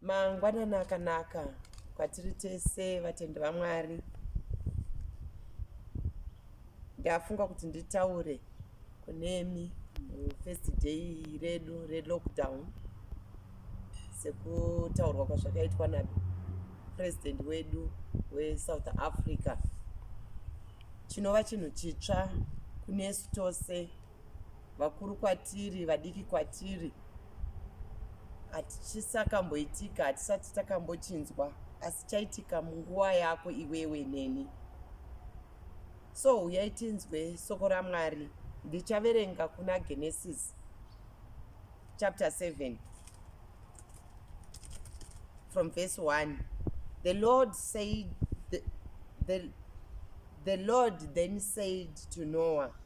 Mangwanani akanaka kwatiri tese vatendi vaMwari. Ndafunga kuti nditaure kunemi mufirst day redu relockdown sekutaurwa kwazvakaitwa napresident wedu wesouth africa chinova chinhu chitsva kunesu tose vakuru kwatiri vadiki kwatiri hatichisakamboitika hatisati takambochinzwa asi chaitika munguva yako iwewe neni so huyai tinzwe soko ramwari ndichaverenga kuna genesis chapter 7 from verse 1 the lord said the, the, the lord then said to noah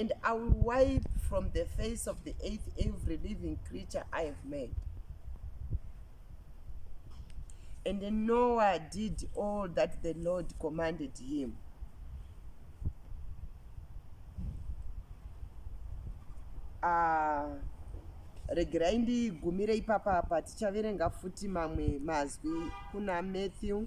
and i will wipe from the face of the earth every living creature i have made and noah did all that the lord commanded him uh, regerai ndigumire ipapa apa tichaverenga futi mamwe mazwi kuna matthew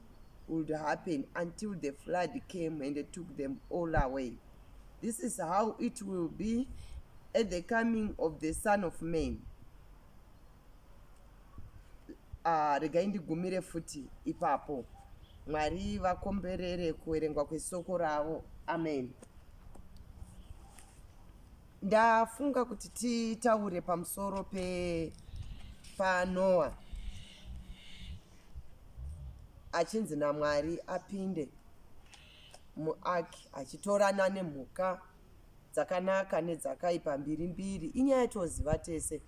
would happen until the flood came and took them all away this is how it will be at the coming of the son of man ah, regai ndigumire futi ipapo mwari vakomberere kuverengwa kwesoko ravo amen ndafunga kuti titaure pamusoro pepanoa achinzi namwari apinde muark achitorana nemhuka dzakanaka nedzakaipa mbiri mbiri inyaya yatoziva tese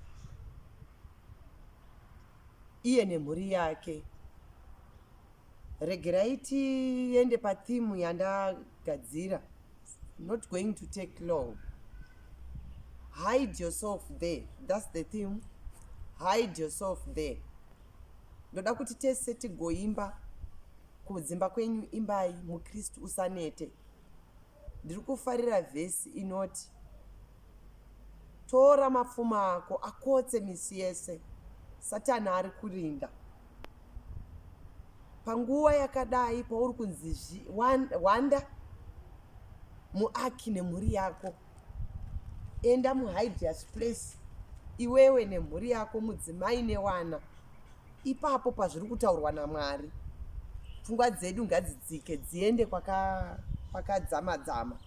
iye nemhuri yake regerai tiende pathimu yandagadzira not going to take long hide yourself there thats the theme hide yourself there ndoda kuti tese tigoimba kudzimba kwenyu imbai mukristu usanete ndiri kufarira vhesi inoti tora mapfuma ako akotse misi yese satani ari kurinda panguva yakadai pauri kunzi wanda muaki nemhuri yako enda muhideous place iwewe nemhuri yako mudzimai newana ipapo pazviri kutaurwa namwari pfungwa dzedu ngadzidzike dziende kwakadzamadzama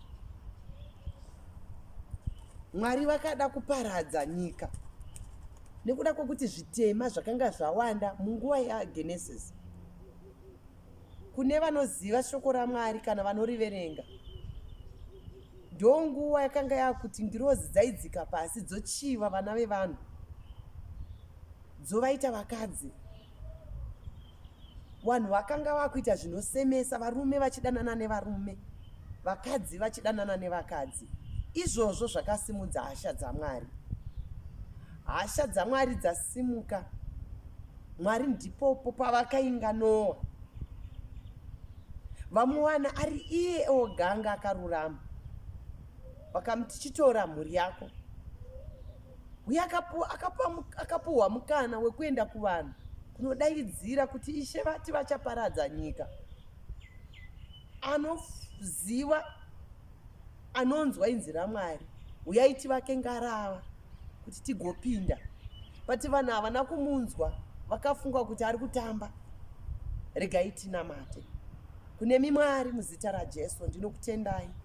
mwari vakada kuparadza nyika nekuda kwekuti zvitema zvakanga zvawanda munguva yagenesis kune vanoziva shoko ramwari kana vanoriverenga ndonguva yakanga yakuti ngirozi dzaidzika pasi dzochiva vana vevanhu dzovaita vakadzi vanhu vakanga vakuita zvinosemesa varume vachidanana nevarume vakadzi vachidanana nevakadzi izvozvo zvakasimudza hasha dzamwari Hasha dzaMwari dzasimuka. Mwari ndipopo pavakainga Noa. Vamuwana ari iye oganga akarurama. Vakamuti chitora mhuri yako. Uye akapuhwa mukana wekuenda kuvanhu kunodaidzira kuti ishe vati vachaparadza nyika. anoziva anonzwa inzi ramwari huyai tivake ngarava kuti tigopinda pati vanhu havana kumunzwa vakafunga kuti ari kutamba regai tinamate kune mimwari muzita rajesu ndinokutendai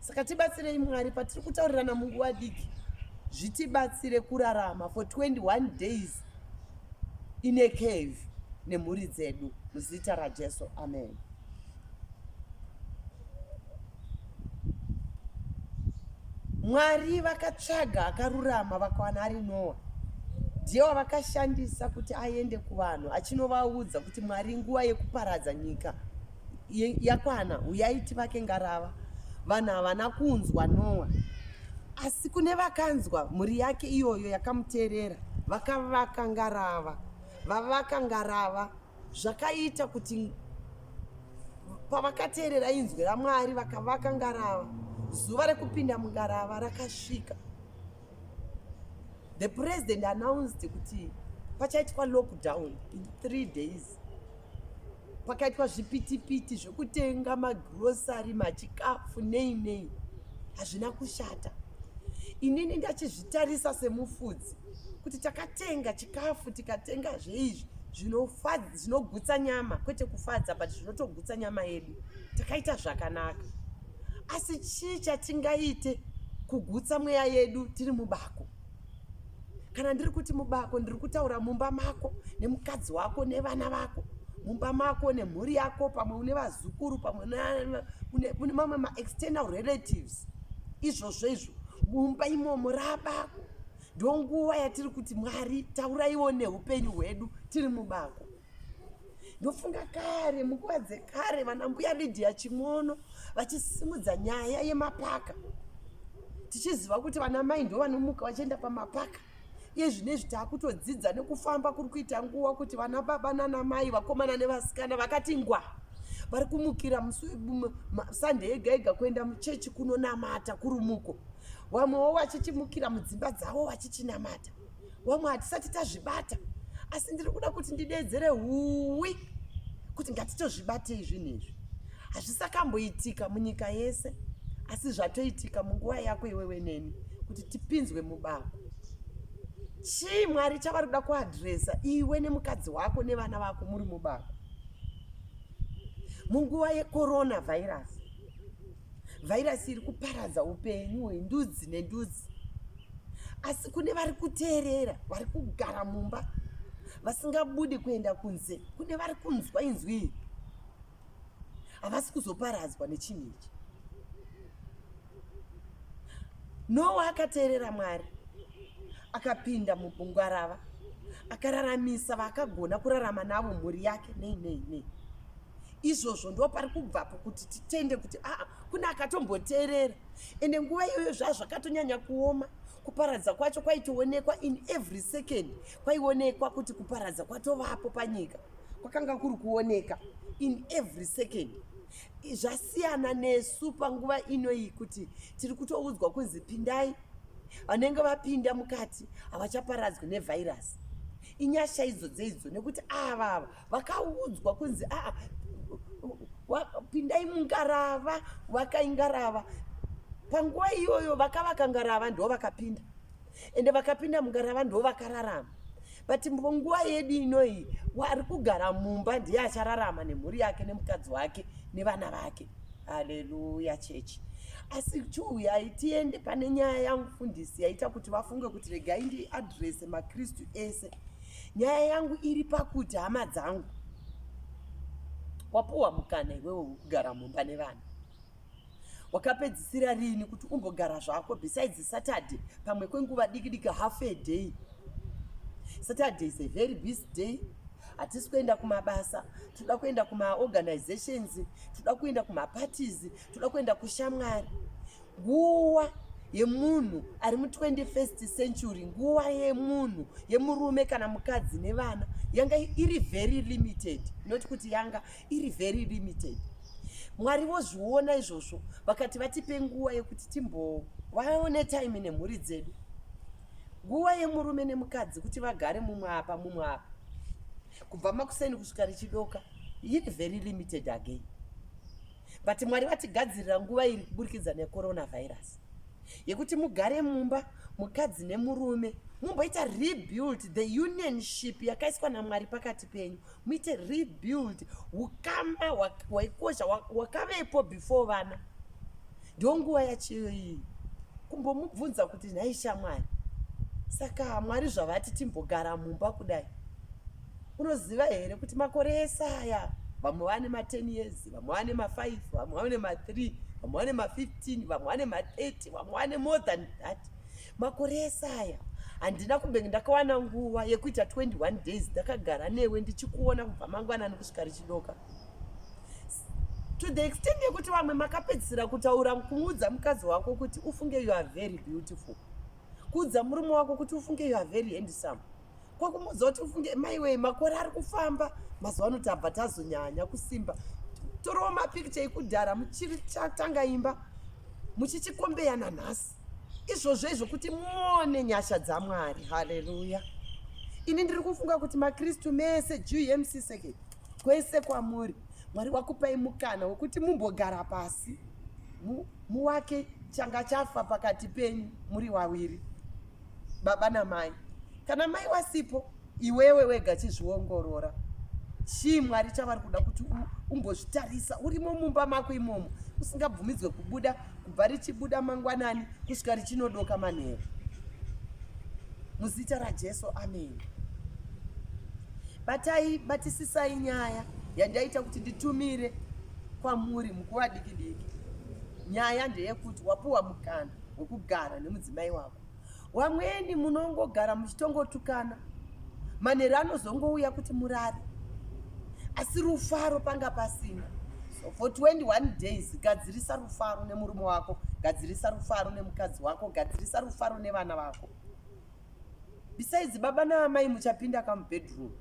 saka tibatsirei mwari patiri kutaurirana munguva diki zvitibatsire kurarama for 21 days in a cave nemhuri dzedu muzita rajesu amen mwari vakatsvaga akarurama vakawana ari noa ndiye wavakashandisa kuti aende kuvanhu achinovaudza kuti mwari nguva yekuparadza nyika yakwana uyai tivake ngarava vanhu havana kunzwa noa asi kune vakanzwa mhuri yake iyoyo yakamuteerera vakavaka ngarava vavaka ngarava zvakaita kuti pavakateerera inzwi ramwari vakavaka ngarava zuva rekupinda mungarava rakasvika the president announced kuti pachaitwa lockdown in three days pakaitwa zvipitipiti zvekutenga magrosari machikafu nei nei hazvina kushata inini ndachizvitarisa semufudzi kuti takatenga chikafu tikatenga zveizvi zvinogutsa nyama kwete kufadza but zvinotogutsa nyama yedu takaita zvakanaka asi chii chatingaite kugutsa mweya yedu tiri mubako kana ndiri kuti mubako ndiri kutaura mumba mako nemukadzi wako nevana vako mumba mako nemhuri yako pamwe une vazukuru pamwe une mamwe maexternal relatives izvozvo izvo mumba imomo rabako ndonguva yatiri kuti mwari tauraiwo neupenyu hwedu tiri mubako ndofunga kare munguva dzekare vana mbuya lidhiya chimono vachisimudza nyaya yemapaka tichiziva kuti vana mai ndo vanomuka vachienda pamapaka iye zvino izvi taakutodzidza nekufamba kuri kuita nguva kuti vana baba nana mai vakomana nevasikana vakati ngwa vari kumukira musande yega yega kuenda muchechi kunonamata kurumuko vamwewo vachichimukira mudzimba dzavo vachichinamata wamwe hatisati tazvibata asi ndiri kuda kuti ndidedzere huwi kuti ngatitozvibatei zvinhu izvi hazvisakamboitika munyika yese asi zvatoitika munguva yako iwewe neni kuti tipinzwe mubako chii mwari chavari kuda kuadresa iwe nemukadzi wako nevana vako muri mubako munguva yecoronavirus vhairasi iri kuparadza upenyu hwendudzi nendudzi asi kune vari kuteerera vari kugara mumba vasingabudi kuenda kunze kune vari kunzwa inzwi iri havasi kuzoparadzwa nechinhu ichi nowa akateerera mwari akapinda mubungwarava akararamisa vaakagona kurarama navo mhuri yake nei nei nei izvozvo ndo pari kubvapo kuti titende kuti aa kune akatomboteerera ende nguva iyoyo zvaa zvakatonyanya kuoma kuparadza kwacho kwaitoonekwa in every second kwaionekwa kuti kuparadza kwatovapo panyika kwakanga kuri kuoneka in every second zvasiyana nesu panguva inoyi kuti tiri kutoudzwa kunzi pindai vanenge vapinda mukati havachaparadzwi nevhairasi inyasha idzo dzeidzo nekuti ava ava vakaudzwa kunzi aa pindai mungarava vakai ngarava panguva iyoyo vakavaka ngarava ndo vakapinda ende vakapinda mungarava ndo vakararama but munguva yedu inoyi ari kugara mumba ndiye achararama nemhuri yake nemukadzi wake nevana vake haleluya chechi asi chiuyai tiende pane nyaya yamufundisi yaita kuti vafunge kuti regai ndiadrese makristu ese nyaya yangu iri pakuti hama dzangu wapuwa mukana iwewe wekugara mumba nevana wakapedzisira rini kuti umbogara zvako besides saturday pamwe kwenguva diki diki half a day saturday is a very busy day hatisi kuenda kumabasa toda kuenda kumaorganizations toda kuenda kumaparties toda kuenda kushamwari Nguwa yemunhu ari mu 21st century, nguwa yemunhu yemurume kana mukadzi nevana yanga iri very limited, not kuti yanga iri very limited. Mwari vozviona izvozvo vakati vatipe nguwa yekuti timbovaone time nemhuri dzedu. Nguwa yemurume nemukadzi kuti vagare mumwe apa mumwe apa kubva makuseni kusvika richidoka iri very limited again. but mwari vatigadzirira nguva iri kuburikidza necoronavirus yekuti mugare mumba mukadzi nemurume mumboita rebuild the unionship yakaiswa namwari pakati penyu muite rebuild ukama hwaikosha wakavepo before vana ndonguva yachiyo iyi kumbomubvunza kuti nhai shamwari saka mwari zvavati timbogara mumba kudai unoziva here kuti makore ese aya vamwe vane ma10 years vamwe vane ma5 vamwe vane ma3 vamwe vane ma15 vamwe vane ma30 vamwe vane more than that makore ese aya handina kumbenge ndakawana nguva yekuita 21 days ndakagara newe ndichikuona kubva mangwanani kusvika richidoka to the extent yekuti vamwe makapedzisira kutaura kumuudza mukadzi wako kuti ufunge you are very beautiful kuudza murume wako kuti ufunge you are very handsome kwakumuudza kuti ufunge maiwei makore ari kufamba mazuva ano tabva tazonyanya kusimba torowo mapicture ekudhara muchiri chatanga imba muchichikombeya nanhasi izvozvo izvo kuti muone nyasha dzamwari haleluya ini ndiri kufunga kuti makristu mese juu yemsiseke Kwese kwamuri Mwari wakupai mukana wekuti mumbogara pasi mu, muwake changa chafa pakati penyu muri waviri baba namai. Kana mai wasipo iwewe wega chizviongorora chii mwari chavari kuda kuti umbozvitarisa urimo mumba mako imomo usingabvumidzwe kubuda kubva richibuda mangwanani kusvika richinodoka manheru muzita rajesu ameni Batai, batisisai nyaya yandaita kuti nditumire kwamuri mukuva diki diki. Nyaya ndeyekuti wapuwa mukana wekugara nemudzimai wako. Wamweni munongogara muchitongotukana manheru anozongouya kuti murare asi rufaro panga pasina so for 21 days gadzirisa rufaro nemurume wako gadzirisa rufaro nemukadzi wako gadzirisa rufaro nevana vako besides baba naamai muchapinda kamubedroom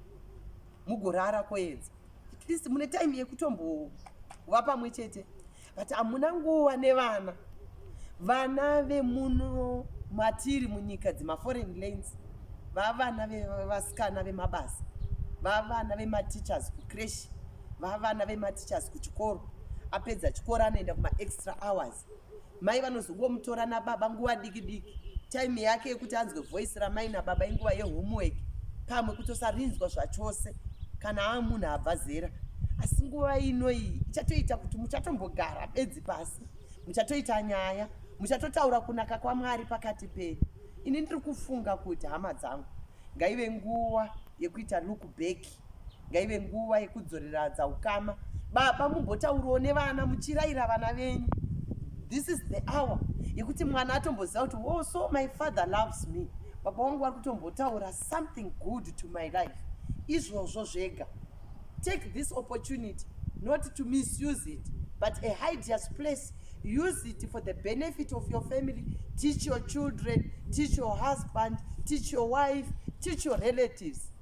mugorara koedza at least mune time yekutombova pamwe chete but hamuna nguva nevana vana vemuno matiri munyika dzemaforeign lanes vavana vevasikana vemabasa vavana vemateachers kucreshi vavana vemateachers kuchikoro apedza chikoro anoenda kumaextra hours Mai vanozongomutora nababa nguva diki diki. Time yake yekuti anzwe voice ramai nababa inguva yehomework. Pamwe kutosarinzwa zvachose kana amunhu abva zera. Asi nguva ino iyi ichatoita kuti muchatombogara bedzi pasi. Muchatoita nyaya. Muchatotaura kunaka kwaMwari pakati penyu. Ini ndiri kufunga kuti hama dzangu ngaive nguva yekuita look back. ngaive nguva yekudzoreradza ukama baba mumbotaurawo nevana muchiraira vana venyu this is the hour yekuti mwana atomboziva kuti wo oh, so my father loves me baba wangu vari kutombotaura something good to my life izvozvo zvega take this opportunity not to misuse it but a hideous place use it for the benefit of your family teach your children teach your husband teach your wife teach your relatives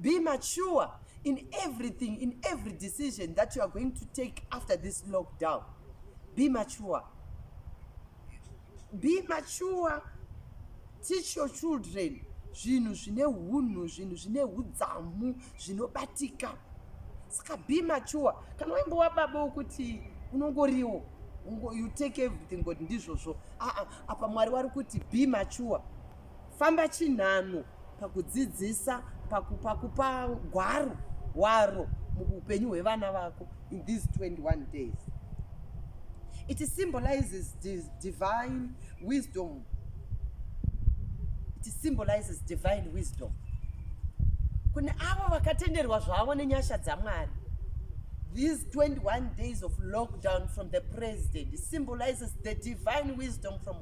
Be mature in everything, in every decision that you are going to take after this lockdown. Be mature. Be mature. Teach your children zvinhu zvine hunhu zvinhu zvine udzamu zvinobatika saka be mature kana waimbova baba wokuti unongoriwo you take everything but ndizvozvo aa apa mwari wari kuti be mature Famba chinhano pakudzidzisa pakupa kupa gwaro waro muupenyu hwevana vako in these 21 days it symbolizes divine wisdom it symbolizes divine wisdom kune avo vakatenderwa zvavo nenyasha dzamwari these 21 days of lockdown from the president symbolizes the divine wisdom from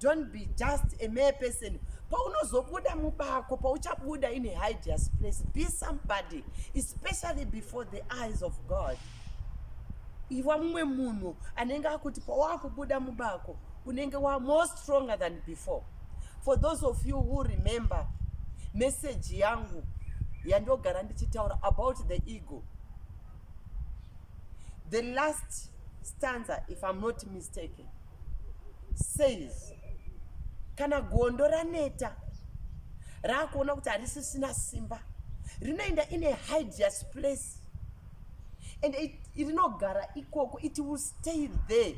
don't be just a mere person paunozobuda mubako pauchabuda in a hideous place be somebody especially before the eyes of god iva mumwe munhu anenge akuti pawakubuda mubako unenge wa more stronger than before for those of you who remember message yangu yandogara ndichitaura about the ego the last stanza if i'm not mistaken says kana gondo raneta raakuona kuti harisisina simba rinoenda in a hideous place and rinogara ikoko it will stay there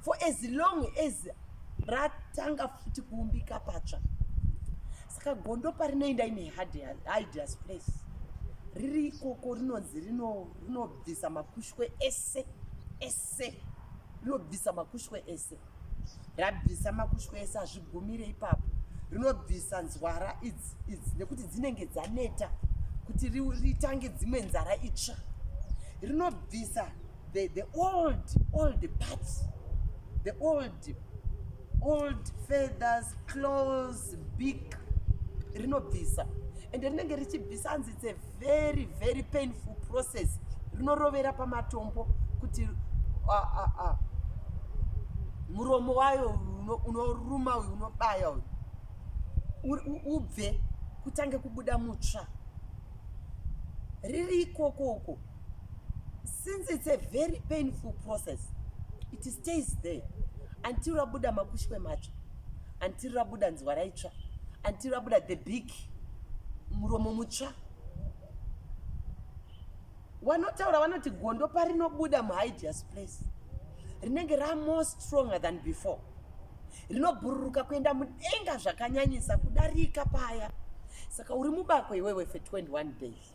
for as long as ratanga futi kuumbika patsva saka gondo parinoenda in a hideous place riri ikoko rinonzi rinobvisa makushwe ese se rinobvisa makushwe ese rabvisa makushwe ese hazvigumire ipapo rinobvisa nzwara idzi idzi nekuti dzinenge dzaneta kuti ritange dzimwe nzara itsva rinobvisa the, the old old part the old old feathers close big rinobvisa ende rinenge richibvisa hanzi its a very very painful process rinorovera pamatombo kuti uh, uh, uh. muromo wayo unoruma uyu unobaya uyu ubve kutange kubuda mutsva riri ikoko uko since it's a very painful process it stays there until rabuda makushwe macho until rabuda nzwa raitsva until rabuda the big muromo mutsva wanotaura vanoti gondo parinobuda muhideous place rinenge ramore stronger than before rinobhururuka kuenda mudenga zvakanyanyisa kudarika paya saka uri mubako iwewe for 21 days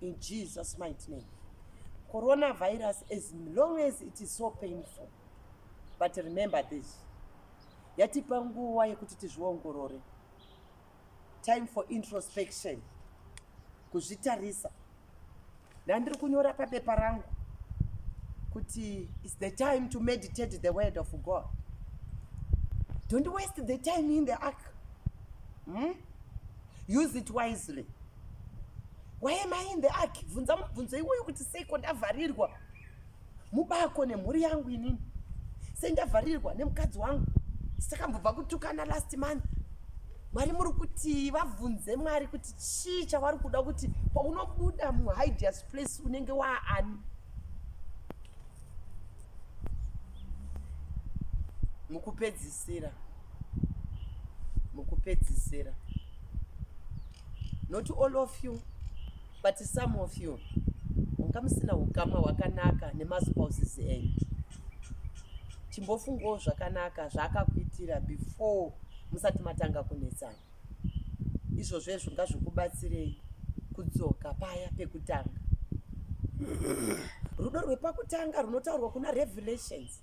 in jesus might name coronavirus as long as it is so painful but remember this yatipa nguva yekuti tizviongorore time for introspection kuzvitarisa ndandiri kunyora papepa rangu kuti its the time to meditate the word of god don't waste the time in the ark hmm? use it wisely why am i in the ark bvunza mubvunzo iwoyo kuti seiko ndavharirwa mubako nemhuri yangu inini sei ndavharirwa nemukadzi wangu sakambobva kutukana last month mwari muri kuti vabvunze mwari kuti chii chavari kuda kuti paunobuda muhideas place unenge waani mukupedzisira mukupedzisira not all of you but some of you manga musina ukama hwakanaka nemaspouses enyu chimbofungawo zvakanaka zvaakakuitira before musati matanga kunetsana izvozvezvo ngazvikubatsirei kudzoka paya pekutanga rudo rwepakutanga runotaurwa kuna revelations